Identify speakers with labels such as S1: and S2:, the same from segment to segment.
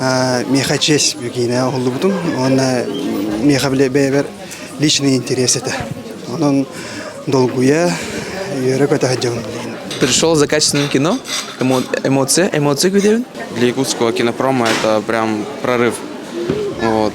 S1: миэхэ честь бу киинэ уһуллубутум уонна миэхэ бэйэбэр личный интерес этэ онон долгуйа үөрэ көтө сылдьабын Пришел за
S2: качественным кино, эмоция, эмоция где Для якутского
S3: кинопрома это прям прорыв. Вот.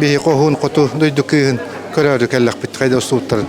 S4: Биһи хоһуун хоту дойду кыыһын көрөөрү кэллэхпит хайда устууттарын.